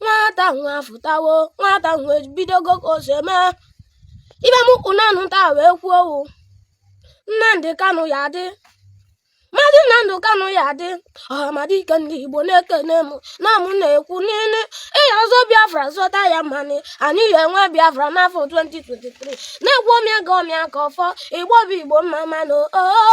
nwata nwa fụtawo nwata nwa ebidogo ka o si eme ive m kwụ nanụ taa wee kwuo owu nnamdị kanụ ya adị maazị nnamdị kanụ ya adị ọhamadike ndị igbo na-ekene m na mụ na-ekwu n'ile ị ya-azọ biafra zọta ya mmanụ anyị ya-enwe biafra n'afọ 2023 na-ekwu ọmịa ga ọmịa ka ọfọ igbo bụ igbo mma mma nụ oo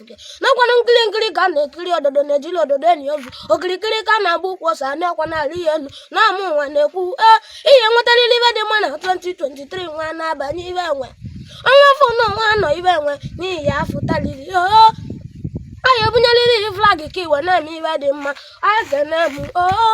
nke nakwana nkiri nkiri ka a na-ekiri ododo na ejirọ ododo enyi ozu okirikiri ka a na-agba ukwu ose anarọkwanụ alị ya enu na ọ mụwa na-ekwu ee ị ya-enwetarịrị ive dị mma na 2023 nwa na-abanye ibe enwe ọnwa afọ na ọnwa anọ ibe enwe na ị ya-afụtalịrị oo anyị ebunyeriri flag ka i wee na-eme ive dị mma anyị kene oo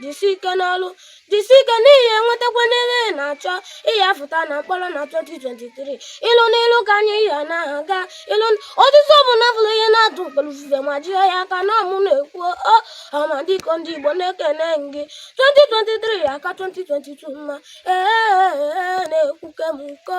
jisi ike n'ọrụ jisi ike na ị ya-enwetakwanụ ive ị na-achọ ị ya-afụta na mkpọrọ na 2023 ilu n'ilu ka anyị ya na-aga ilu osisi ọbụna bụrụ ihe na-atụ mkpelu ufufe ma jie ya aka na ọ mụ na-ekwu ọhamadike ndị igbo na-ekene gị 2023 ya-aka 2022 mma ee na-ekwuke m nkọ